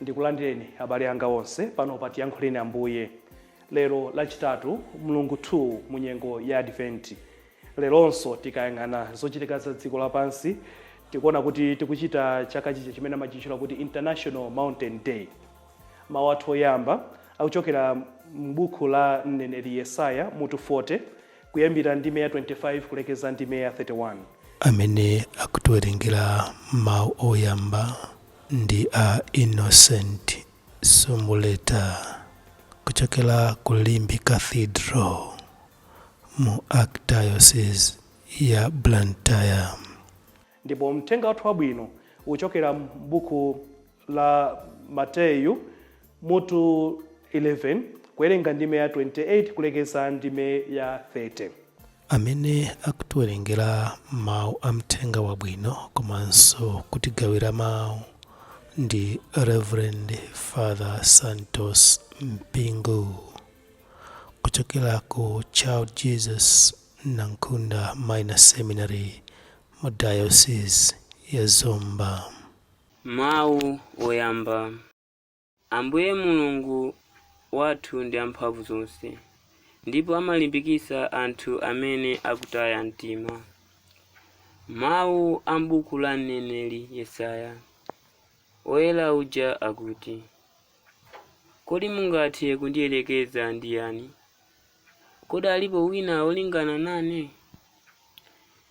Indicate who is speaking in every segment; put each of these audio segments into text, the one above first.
Speaker 1: Ndikulandireni abale anga onse pano pa Tiyankhuleni Ambuye. Lero Lachitatu, mlungu 2 mu nyengo ya Adventi. Leronso tikayang'ana zochitika za dziko lapansi, tikuona kuti tikuchita chaka chija chimene amachitchula kuti International Mountain Day. Mawu athu oyamba akuchokera m'buku la mneneri Yesaya mutu 40 kuyambira ndime ya 25 kulekeza ndime ya 31. Amene
Speaker 2: akutiwerengera mawu oyamba ndi a Innocent Sumbuleta kuchokera ku Limbe Cathedral mu Archdiocese ya Blantyre. Ndipo
Speaker 1: Mthenga wathu Wabwino uchokera m'Buku la Mateyu mutu 11 kuwerenga ndime ya 28 kulekeza ndime ya 30. Amene
Speaker 2: akutiwerengera mau a Mthenga Wabwino komanso kutigawira mau ndi Reverend Father Santos Mpingu kuchokera ku Child Jesus Nankhunda Minor Seminary mu Diocese ya Zomba.
Speaker 3: Mawu Oyamba, Ambuye Mulungu wathu ndi amphamvu zonse ndipo amalimbikitsa anthu amene akutaya mtima. Mawu a m'buku la mneneri Yesaya. Oyera uja akuti, Kodi mungathe kundiyerekeza ndi yani, Kodi alipo wina wolingana nane?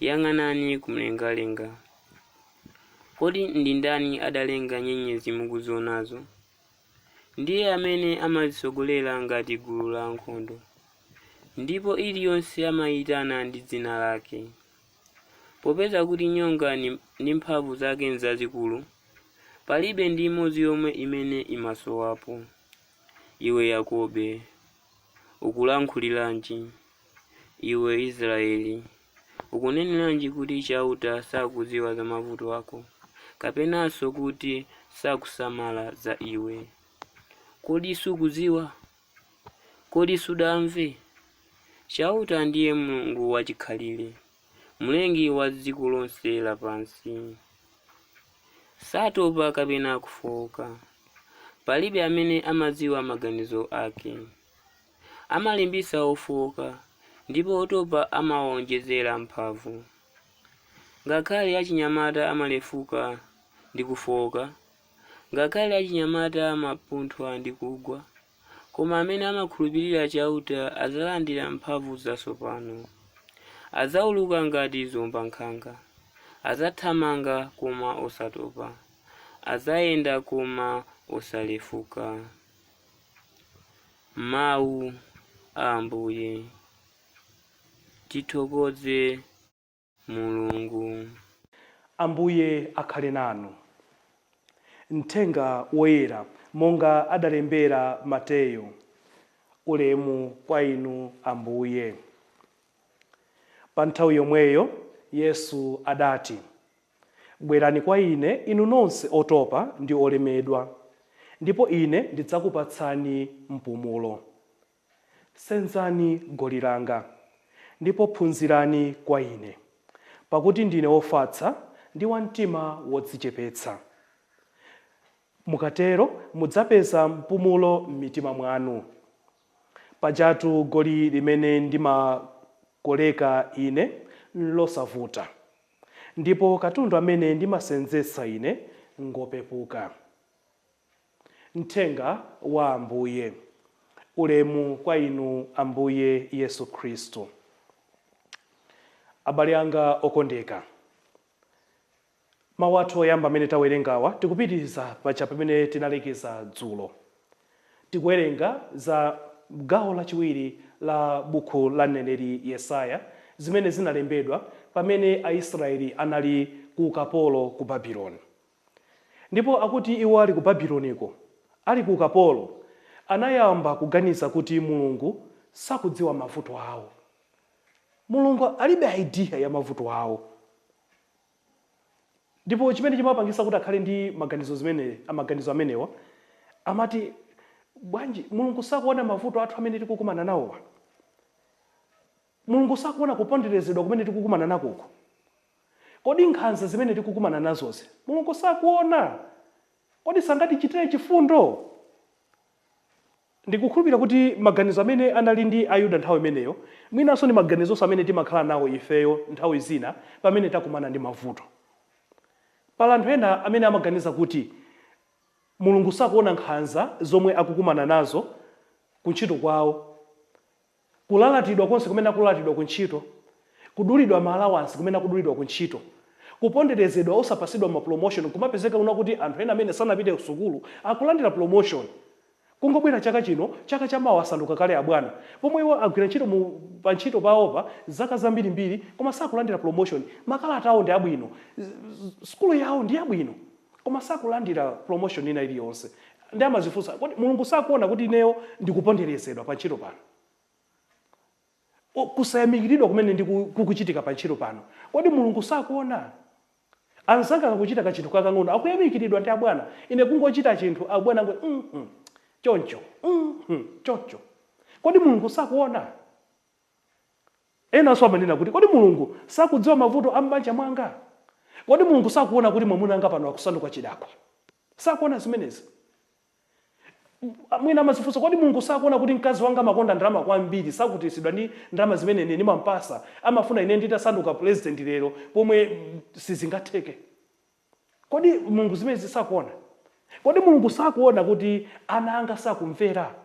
Speaker 3: Yang'anani kumlengalenga. Kodi ndi ndani adalenga nyenyezi mukuzionazo? Ndiye amene amazitsogolera ngati gulu la ankhondo, ndipo iliyonse amaiyitana ndi dzina lake. Popeza kuti nyonga ndi mphamvu zake nzazikulu, palibe ndi imodzi yomwe imene imasowapo. Iwe Yakobe, Ukulankhuliranji, iwe Israeli? Ukuneneranji kuti Chauta sakudziwa za mavuto ako, kapenanso kuti sakusamala za iwe? Kodi sukudziwa? Kodi sudamve? Chauta ndiye Mulungu wachikhalire. Mlengi wa dziko lonse lapansi. Satopa kapena kufooka. Palibe amene amadziwa maganizo ake. Amalimbitsa ofooka ndipo otopa amawawonjezera mphamvu. Ngakhale achinyamata amalefuka ndi kufooka, ngakhale achinyamata amapunthwa ndi kugwa. Koma amene amakhulupirira Chauta adzalandira mphamvu zatsopano. Adzauluka ngati ziombankhanga. Adzathamanga koma osatopa. Adzayenda koma osalefuka. Mau a Ambuye. Tithokoze.
Speaker 1: Mulungu. Ambuye akhale nanu. Mthenga Woyera monga adalembera Mateyo. Ulemu kwa Inu Ambuye. Panthawi yomweyo Yesu adati, Bwerani kwa Ine inu nonse otopa ndi olemedwa, ndipo Ine ndidzakupatsani mpumulo. Senzani goli langa, ndipo phunzirani kwa ine, pakuti ndine wofatsa ndi wa mtima wodzichepetsa. Mukatero mudzapeza mpumulo m'mitima mwanu. Pajatu goli limene ndimakoleka ine nlosavuta, ndipo katundu amene ndimasenzetsa ine ngopepuka. Mthenga wa Ambuye. Ulemu kwa Inu Ambuye Yesu Khristu. Abale anga okondeka. Mau athu oyamba amene tawerengawa tikupitiriza paja pamene tinalekeza dzulo. Tikuwerenga za gawo lachiwiri la buku la mneneri Yesaya zimene zinalembedwa pamene Aisrayeli anali ku ukapolo ku Babiloni. Ndipo akuti iwo ali ku Babiloniko, ali ku ukapolo, anayamba kuganiza kuti Mulungu sakudziwa mavuto awo. Mulungu alibe idea ya mavuto awo. Ndipo chimene chimapangisa kuti akhale ndi maganizo zimene, maganizo amenewa, amati, Bwanji, Mulungu sakuona mavuto athu amene tikukumana nawowa? Mulungu sakuona kuponderezedwa kumene tikukumana nakoku? Kodi nkhanza zimene tikukumana nazozi Mulungu sakuona? Kodi sangatichitire chifundo? Ndikukhulupirira kuti maganizo amene anali ndi Ayuda nthawi imeneyo mwinanso ndi maganizonso amene timakhala nawo ifeyo nthawi zina pamene takumana ndi mavuto. Pala anthu ena amene amaganiza kuti Mulungu sakuona nkhanza zomwe akukumana nazo kuntchito kwawo. kulalatidwa konse kumene akulalatidwa ku ntchito, kudulidwa ma alawansi kumene akudulidwa ku ntchito, kuponderezedwa osapasidwa ma promotion kumapezeka kunena kuti anthu ena amene sanapite kusukulu akulandira promotion kungobwera chaka chino chaka cha mawa asanduka kale abwana pomwe iwo agwira ntchito pa ntchito pawopa zaka zambirimbiri koma sakulandira promotion, makalata awo ndi abwino, sukulu yawo ndi yabwino. koma sakulandira promotion ina iliyonse ndi amazifunsa kodi mulungu sakuona kuti ineyo ndikuponderezedwa pa ntchito pano O, kusayamikiridwa kumene kukuchitika pa ntchito pano kodi mulungu sakuona anzanga akachita kachinthu kakang'ono akuyamikiridwa ndi abwana ine kungochita chinthu abwana ngo mm -hmm. choncho mm -hmm. choncho kodi mulungu sakuona Enanso amanena kuti, Kodi Mulungu sakudziwa mavuto a m'banja mwanga? Kodi Mulungu sakuona kuti mwamuna wanga pano akusanduka chidakwa? Sakuona zimenezi? Mwina amadzifunsa, kodi Mulungu sakuona kuti mkazi wanga amakonda ndalama kwambiri, sakhutiritsidwa ndi ndalama zimene ine ndimamupatsa? Amafuna ine nditasanduka pulezidenti lero pomwe sizingatheke. Kodi Mulungu zimenezi sakuona? Kodi Mulungu sakuona kuti ana anga sakumvera?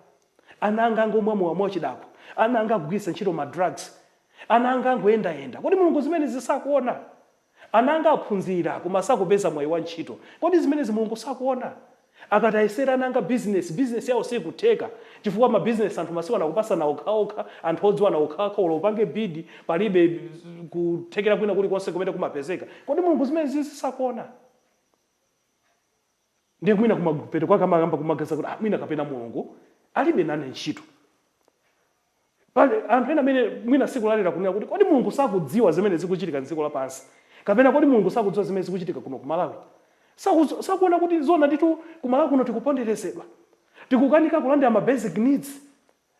Speaker 1: Ana anga angomwa mowa mwauchidakwa. Ana anga akugwiritsa ntchito ma drugs. Ana anga angoyendayenda. Kodi Mulungu zimenezi sakuona? Ana anga aphunzira koma sakupeza mwayi wa ntchito. Kodi zimenezi Mulungu sakuona? Akati ayesere ana anga business, business yawo sikutheka chifukwa ma business anthu masiku ano akupasana okhaokha, anthu odziwana okhaokha olo upange bid palibe kuthekera kwina kuli konse kumene kumapezeka. Kodi Mulungu zimene zizi sakuona? Ndiye mwina kumapeto kwake amayamba kumaganiza kuti ah mwina kapena Mulungu alibe nane ntchito. Pali anthu ena amene mwina sikulalira kunena kuti kodi Mulungu sakudziwa zimene zikuchitika m'dziko lapansi kapena kodi Mulungu sakudziwa zimene zikuchitika kuno ku Malawi? Sakuona kuti zoona ndithu ku Malawi kuno tikuponderezedwa, tikukanika kulandira ma basic needs,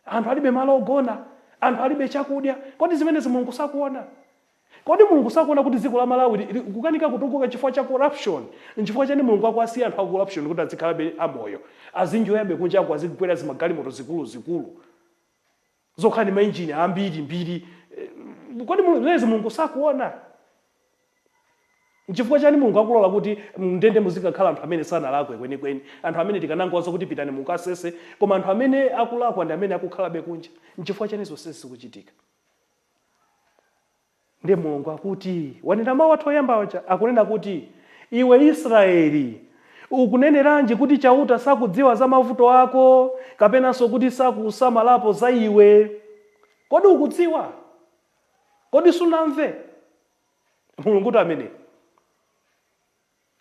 Speaker 1: anthu alibe malo ogona, anthu alibe chakudya. Kodi zimenezi Mulungu sakuona? Kodi mulungu sakuona kuti dziko la malawi li likukanika kutukuka chifukwa cha corruption? Nchifukwa chani mulungu akuwasiya anthu a corruption kuti adzikhalabe a moyo? Azinjoyabe kunjaku azikwera zimagalimoto zikulu zikulu zokhala ndi ma engine ambiri mbiri kodi mulungu zimenezi sakuona? Nchifukwa chani mulungu akulola kuti mndende muzikakhala anthu amene sanalakwe kwenikweni anthu amene tikanangowauza kuti pitani mukasese koma anthu amene akulakwa ndi amene akukhalabe kunja nchifukwa chani zonsezi zikuchitika? Ndiye Mulungu akuti, wanena mawu athu oyamba aja, akunena kuti, Iwe Israeli, ukuneneranji kuti Chauta sakudziwa za mavuto ako, kapenanso kuti sakusamalapo za iwe? Kodi ukudziwa? Kodi sunamve? Mulungutu ameneyo.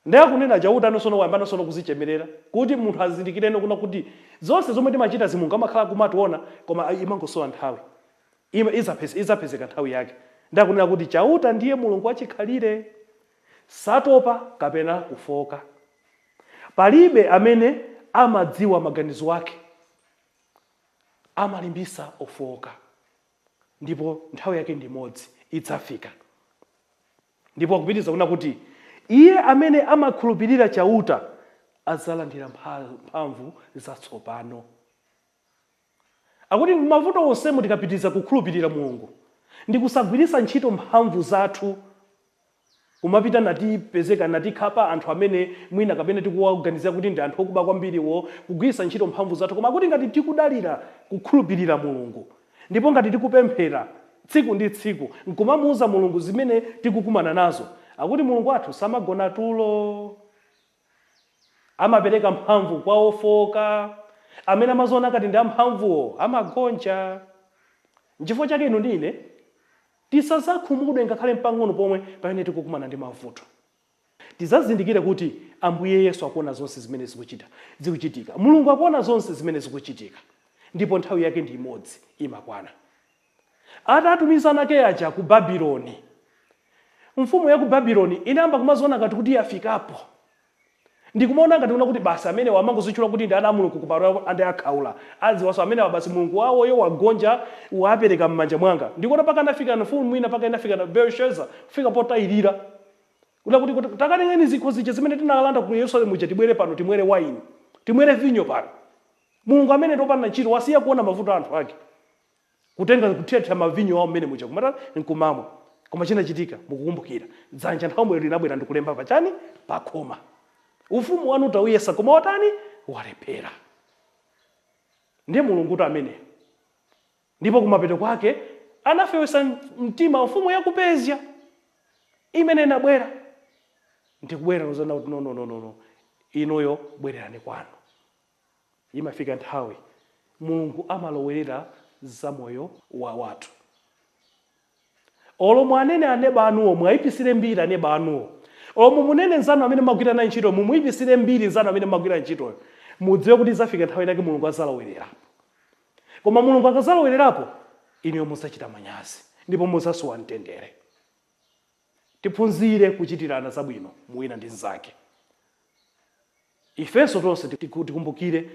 Speaker 1: Nde akunena chautano sono wayambano sono kuzichemerera kuti munthu azindikireno kunena kuti zonse zomwe timachitazi mulungu amakhala akumationa koma imangosowa nthawi izapezeka nthawi yake nde akunena kuti chauta ndiye mulungu wachikhalire satopa kapena kufooka palibe amene amadziwa maganizo ake amalimbisa ofooka ndipo nthawi yake ndi imodzi idzafika. Ndipo akupitiriza kunena kuti, Iye amene amakhulupirira Chauta adzalandira mphamvu zatsopano. Akuti m'mavuto onsemu tikapitiriza kukhulupirira Mulungu ndi kusagwiritsa ntchito mphamvu zathu, kumapita natipezeka, natikhapa anthu amene mwina kapena tikuwaganizira kuti ndi anthu okuba kwambiriwo, kugwiritsa ntchito mphamvu zathu. Koma akuti ngati tikudalira kukhulupirira Mulungu, Ndipo ngati tikupemphera tsiku ndi tsiku nkumamuuza Mulungu zimene tikukumana nazo, akuti Mulungu wathu samagona tulo. Amapereka mphamvu kwa ofooka, amene amaziona ngati ndi amphamvuwo amagonja. Nchifukwa chake inu ndi ine tisazakhumudwe ngakhale mpang'ono pomwe pamene tikukumana ndi mavuto. Tizazindikire kuti Ambuye Yesu akuona zonse zimene zikuchita zikuchitika. Mulungu akuona zonse zimene zikuchitika ndipo nthawi yake ndi imodzi imakwana. Atatumiza ana ake aja ku Babyloni, mfumu ya ku Babyloni inayamba kumaziona ngati kuti yafikapo. Ndikumaona ngati kuna kuti basi amenewa amangozitchula kuti ndi ana a Mulungu koma ande akhaula. Adziwanso amenewa basi Mulungu wawoyo wagonja waapereka m'manja mwanga. Ndikuona paka anafika mfumu ina paka inafika Belshazzar kufika potayirira. Kunena kuti, kuti takatengeni zikho zija zimene tinalanda ku Yerusalemu uja tibwere pano timwere wayini, timwere vinyo pano. Mulungu ameneyu ndi opanda ntchito wasiya kuona mavuto a anthu ake. Kutenga kuthirathira mavinyo awo mmene muja kumatani nkumamwa. Koma chinachitika mukukumbukira. Dzanja nthawiyo linabwera ndikulemba pa chani? Pa khoma. Ufumu wanu tauyesa koma watani? Walephera. Ndiye Mulungutu ameneyo. Ndipo kumapeto kwake anafewetsa mtima mfumu ya ku Persia imene inabwera ndi kubwera kudzanena kuti no, no, no, no, no, inuyo bwererani kwanu. Imafika nthawi Mulungu amalowerera za moyo wa anthu. Olo muanene aneba anuwo muwaipitsire mbiri aneba anuwo. Olo mumunene nzanu amene mumagwira naye ntchito mumuipitsire mbiri nzanu amene mumagwira ntchitoyo. Mudziwe kuti izafika nthawi inayake Mulungu azalowelerapo. Koma Mulungu akazalowelerapo inuyo muzachita manyazi ndipo muzasowa mtendere. Tiphunzire kuchitirana zabwino mu wina ndi nzake. Ifenso tonse tikumbukire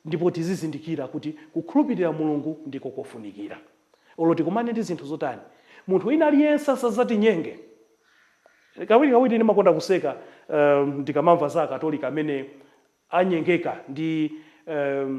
Speaker 1: ndipo tizizindikira kuti kukhulupirira Mulungu ndiko kofunikira. Olo tikumane ndi zinthu zotani, munthu wina aliyense asadzatinyenge. Kawirikawiri ndimakonda kuseka ndikamamva za Akatolika amene anyengeka ndi a.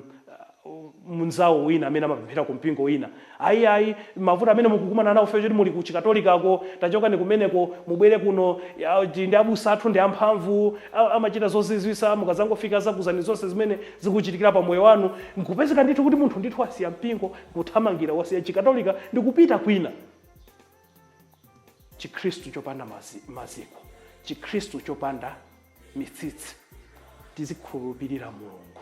Speaker 1: mnzawo wina amene amapemphera ku mpingo wina, Ayi, ayi, mavuto amene mukukumana nawo chifukwa choti muli ku Chikatolikako, tachokani kumeneko mubwere kuno, ya, tili ndi abusa athu ndi amphamvu, a, amachita zozizwitsa, mukadzangofika adzakuuzani zonse zimene zikuchitikira pa moyo wanu. Nkupezeka ndithu kuti munthu ndithu wasiya mpingo, nkuthamangira, wasiya Chikatolika ndi kupita kwina. Chikhristu chopanda mazi, maziko, Chikhristu chopanda mitsitsi. Tizikhulupirira Mulungu.